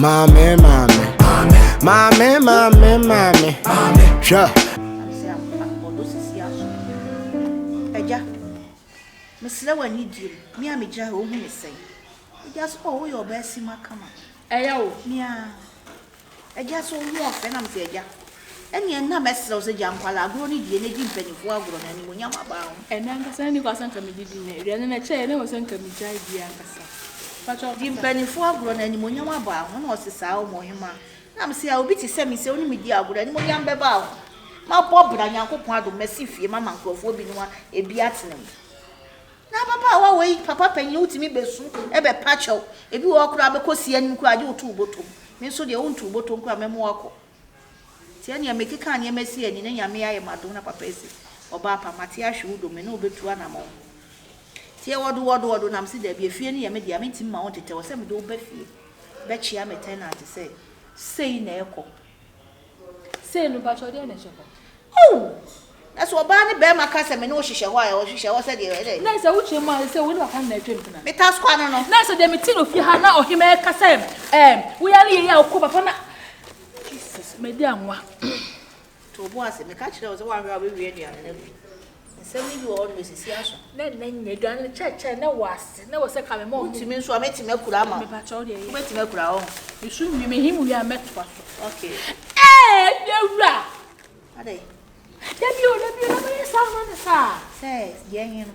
Maame maame maame maame maame hwɛ. Agya, mesrɛ w'ani die mu, me a megya hɛ, wohu me sɛn? Agya so, oh, woyɛ ɔbaa simma kama. Ɛyɛ wo? Mea. Agya sɛ ɔwu a ɔfrɛ na mese agya ɛneɛ na mɛsrɛw sɛ gya nkwalaa agorɔ no die na di mpanyinfoɔ agorɔ no animuonyam abaa ho. Ɛnɛ ankasa na nnikwaa sɛ nka medi bi nnɛ aduane no ɛkyɛɛ na ɛwɔ sɛ nka megyae die ankasa mpakyɛw kasa. Di mpanyinfoɔ agorɔ no animuonyam abaa ho na ɔse saa ɔmo ɔhemaa na mese a obi te sɛ me sɛ ɔne me di agorɔ animuonyam bɛbaa ho mabɔ bra Nyankopɔn adom masi fie mama nkorɔfoɔ binom a ebi atena mu. N'ababaawa wei papa panyin wotumi bɛsu bɛpa kyɛw, ebi wɔ hɔ koraa bɛkɔ si anim koraa agye wotow bɔtɔm, me nso deɛ wontow bɔtɔm koraa mɛma wakɔ. Nti ɛneɛ mekeka nneɛma si ani na Nyame ayɛ m'adom na papa asi Ɔbaapa mate ahwe wo do me ne wo bɛtu anamɔn Nti ɛwɔ do wɔ do wɔ do na mese daabi efie no yɛ me dea mentumi ma wo ntetɛ wɔ sɛ mede wo ba fie bɛkyea me tenant sɛ sei na ɛkɔ Sei no mpakyɛw deɛ na ɛhyɛ hɔ. Ooh! Na sɛ ɔbaa ne barima ka sɛ me ne wo hyehyɛ hɔ a, ɛwɔ hyehyɛ hɔ sɛ deɛ ɛdɛ. Na sɛ wokyerɛ mu a, sɛ wo ne papa no na atwam tena. Me task kwa no no. Na sɛ deɛ me te no fie ha na ɔhema ɛka sɛ ɛɛm wo yare yei a wokɔ papa na Jesus, madi anwa. To wo bo ase, meka kyerɛ wo sɛ woanhwɛ a wobɛwie aduane no afi. Nsɛm no bi wɔ hɔ no, esi si aso. Nɛ nnɛ nyɛ edua no kyɛɛkyɛɛ nɛ wɔ ase, nɛ wɔ sɛ ka me mɔ ho. Wotumi nso a, mɛtumi akura ama wo. Me pakyɛ wo deɛ yɛ. Wobɛtumi akura hɔ ho. Esu nwi me him wie a mɛtoa so. Okay. Ee me wura! Adɛn? Da bi o, da bi o, na mɛyɛ saa ama no saa. Sɛ deɛ he no.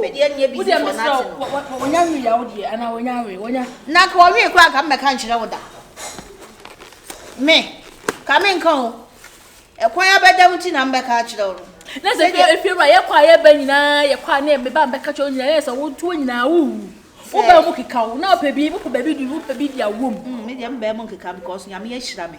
Medeɛ nyɛ busy for nothing o. Wɔnya nwi ya wo deɛ ana wɔnya awe wɔnya. Na nka wɔwe kura nka mmɛka nkyerɛ wo da. Me ka me nka o. Ɛkwan abɛda mu ti na mbɛka akyerɛ wo no. Na sɛ fie efie wura yɛkɔ a yɛba nyinaa yɛkɔ a ne meba mbɛka kyerɛ wo nyinaa yɛ sɛ wo ntoɔ nyinaa wo wu. Wo baa mu keka o na ɔpɛ bi wopɛ baabi di wopɛ bi di awom. Mm, me deɛ mbaa mu nkeka because nyame ahyira me.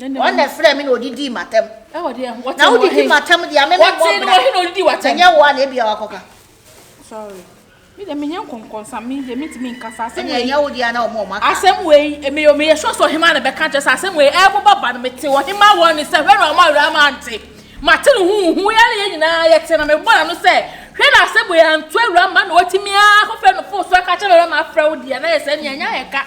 Wɔn na ɛfrɛɛ me na wɔdidii m'atɛm. Na wodidi m'atɛm deɛ a, me memmɔ bra. Na ɛnyɛ wo a na ebia woakɔka. Sorry. Me deɛ menyɛ nkɔnkɔnsa me deɛ mentumi nka saa asɛm wei. Ɛnyɛ wo deɛ a na wɔn wɔn aka. Asɛm wei meyɛ meyɛ sure sɛ ɔhemaa na bɛka kyerɛ sɛ asɛm wei ɛreboba ba no mete ɔhemaa wɔ ne sɛ hwɛ na ɔma awura ama ante. Mate no huhu yɛ na yɛn nyinaa yɛte na mebɔ n'ano sɛ hwɛ na asɛm wei anto awura ma na watumi akɔfrɛ no fon so aka kyerɛ me ma afrɛ wo deɛ na yɛ sɛ nea ɛnyɛ ayɛ ka.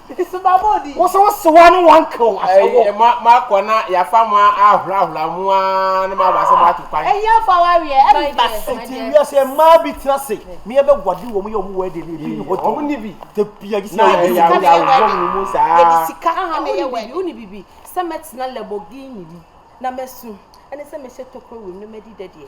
Wo so wo sewa ne wankew ahyɛ wo. Ɛyɛ mo a moakɔ na yɛafa mo ahorahoraw mu ara na moaba sɛ moato kwan. Ɛyɛ mfa wo aweɛ mma so. Enti wiase mmaa bi tena ase na yɛbɛguade wɔn yɛ wɔn wedding no, ebi nni hɔ dɔn. Wɔn nni bi. Da biara gye sɛ yɛwɔ bi. Na ɛyɛ awoyawoyɛ wɔn mu saa. Yɛde sika na ɛyɛ wedding. Wo ne bibi sɛ mɛtena Lamborghini mu na masu ɛne sɛ mɛhyɛ tokuro wim na madi dɛdeɛ.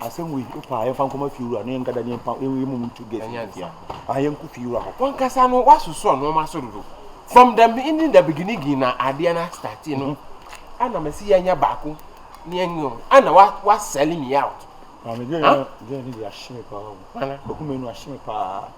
Asɛm wei, wo paa, yɛmfa nkɔma fie wura no, yɛnka da ne yɛmpa, yɛn yɛn mom ntu guest no fie a, yɛnko fie wura hɔ. Wankasa no wasoso nnoɔma so dodo. From the beginning the beginiging na adeɛ no astarti no, ɛna mɛsi yɛnyɛ baako, ne yɛn yɛn, ɛna wa wa sell me out. Maame, girl no, girl no de ahye me paa o. Nana. Okume no ahye me paa.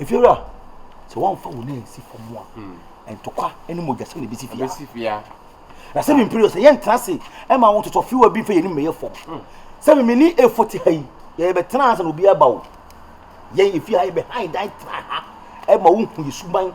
Efiewura, sɛ wɔamfa wo nan nsi fam a, hmm. ntɔkwa ne mogyasɛm na ebesi fia. Na sɛ me mpiri sɛ yɛntena ase ma wo totɔ fiwa bi mfa yɛn anim mɛyɛ fam. Hmm. Sɛ me mene efo te ha yi, yɛbɛtena ase na obi aba o. Yɛn efi ha yɛbɛhan dan tra ha ma wohu yɛ suban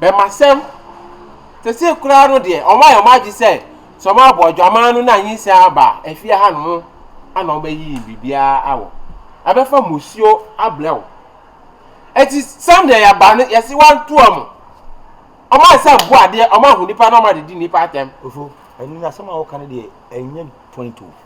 Dɛm asɛm sesei koraa no deɛ, wɔayɛ wɔn adwe sɛ sɛ wɔabɔ adwaman no na nyinsɛn aba a, afie hanom na wɔbɛyiyi biribiara awɔ. Wɔbɛfa mmusuo abrɛ wo. Enti sɛdeɛ yɛaba no, yɛse wɔnto wɔn. Wɔayɛ sɛ mmoa adeɛ, wɔahu nnipa na wɔde di nnipa atɛm. Ofo, ɛno no asɛm a woka no deɛ, ɛnyɛ point o.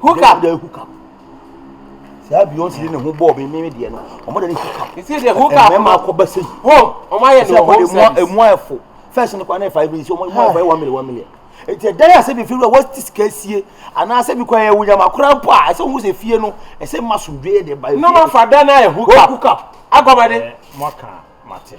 Hookup. They hookup. Saa Beyonce ne ho bɔɔ me meme deɛ no. Wɔn de ne hookup. Nti deɛ hookup. Mmarima akɔ bɛ sɛ yi. Home. Wɔn ayɛ no home service. Emu ayɛfo. First no kɔ anayɛ five minutes. Wɔn ayɛ five one million one million. Nti ɛdan a sɛ bi firi wɔ ti sika sie anaa sɛ bi kɔ ɛyɛ wunyam akora mpo a ɛsɛ wɔn sɛ fie no ɛsɛ ma sundue yɛ de ba. Nnɔma fa dan na yɛ hookup. Hookup. Agɔmɔden. Mo aka mate.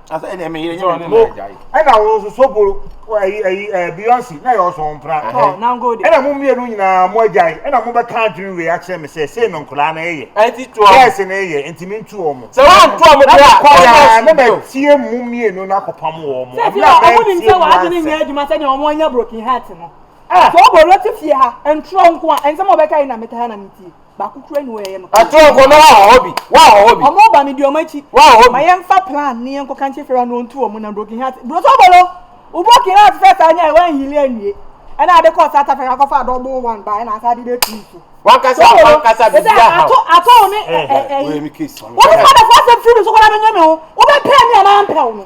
Asa ɛna ɛmɛ yɛrɛ nyɛ mɛ ɛna yi. Ɛna wɔn nso soboro ɛyi ɛyi ɛɛ biyɔnsi na yɛ ɔsɔn mpira. Ɔ nango de. Ɛna mo mmienu nyinaa mo agya yi ɛna mo bɛ ka adwene wei akyerɛ mi sɛ sɛ no nkɔla na ɛyɛ. Ɛti to ɔmo. Bɛɛsi na ɛyɛ nti mi ntu ɔmo. Sɛ wɔn to ɔmo de a. Ɛna kɔ ya ne bɛ tie mo mmienu na kɔ pam wɔn. Sɛ ti ɔmo nim sɛ wɔn adwene nyɛ adwuma sɛ deɛ ɔmo anya broken heart no. Sɛ ɔbɔ ɔlɔte fie ha ntorɔ nko a ɛnsɛm ɔbɛka yi na mi ka ha na mi tie. Baako kura ni wɔyɛ no. Ɛto nko no wa hɔ bi, wa hɔ bi. Ɔmo ba mi di ɔmo akyi. Wa hɔ bi. Ma yɛn fa plan ni yɛn kɔ kankyɛ fira no ntu ɔmo na broken heart. Broso bolo, o broken heart fɛ ta nya wa nhili ɛnwie. Ɛna ade kɔ South Africa kɔ fa double one ba ɛna asa adi bɛ tu so. Wan kasa wan kasa bi bi a ha. Ato ato ne ɛɛ ɛɛ. Wo mi case. Wo mi fa na fa sɛ firi so kɔ na bɛ nyɛ mi ho. Wo bɛ pɛ mi a na mpɛ wo no.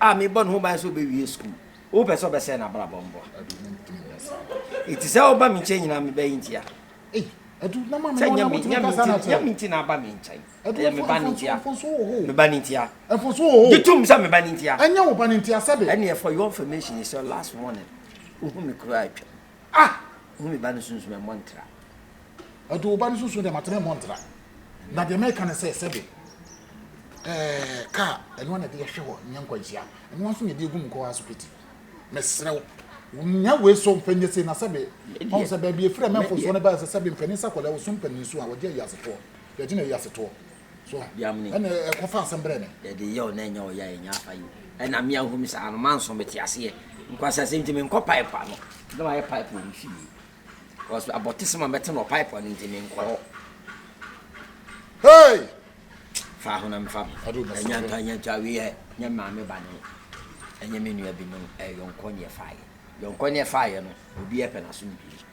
a mebɔ ne ho ban sɛ ɔbɛwie sukuu. Wopɛ sɛ ɔbɛsɛe n'abrabɔ mboa. Eti sɛ ɔba me nkyɛn nyinaa mebɛyɛ ntia. Sɛ nyɛ me nyɛ me nti nyɛ me nti na aba me nkyɛn. Ɛyɛ me ba ne ntia. Me ba ne ntia. Gye tom sɛ me ba ne ntia. Ɛnyɛ wo ba ne ntia sɛbe. Ɛnneɛ for your information it's your last warning. Wohu me kura atwam. A! Hu me ba no sunsum a ɛmmɔ ntra. Ɔde wo ba no sunsum de ama tena ɛmmɔ ntra. Na deɛ mɛka ne sɛ, sɛbe ɛɛ kaa, ɛnoa na ɛde yɛ hwe hɔ nyɛ nkwanhyia, ɛnoa nso na ɛde yɛ gu mu kɔ hɔ ara so piti. Mesrɛ wo, nya wei so mfa nyɛ sei na sɛbe ɔhu sɛ baabi ɛfiri a ɛmɛ mfonsoɔ no baɛ sɛ sɛbe mpanin sa kɔlɛ wo so mpanin su a wɔgye ayiase toɔ, yɛgye no ayiase toɔ. so a ɛna ɛkɔfa asɛm brɛ me. Yɛde yɛ o na ɛnyɛ ɔyɛ a ɛnyɛ afa yi ɛna me ahu me saa no manso mete aseɛ nkwasasɛm nti menkɔ pipe ano na mayɛ pipe wɔ me fie because abɔte sɛ ma mɛte no wɔ pipe ano nti menkɔ hɔ. Hey! Fa ho na mefa me ɛnyɛ ntɔ ɛnyɛ ntɔ awie yɛ nyɛ maame ba no ɛnyɛ me nua bi no ɛyɔnkɔ ne ɛfaeɛ yɔnkɔ ne ɛfaeɛ no obi ɛpɛ n'aso no pii.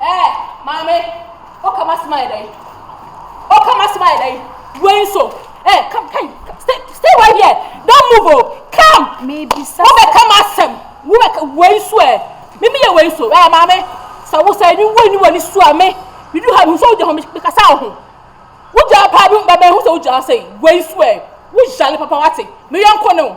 Ɛɛ maame, ɔka m'asɛm ayɛ dɛn? Ɔka m'asɛm ayɛ dɛn? Wei nso, ɛɛ come come stay stay right here don't move o oh. come. Mebisa. Wobɛka m'asɛm wobɛka wei nso ɛ eh. mimi yɛ wei nso ɛɛ maame sɛ wo sɛ ɛni wo ɛni wɔ ni su a me bidu ha mi nso wogya ho mekasa wo ho wogya paa bi bɛbɛn ho sɛ wogya sɛ wei nso ɛ eh. wogyale papa wate meyɛ nkɔ ne o.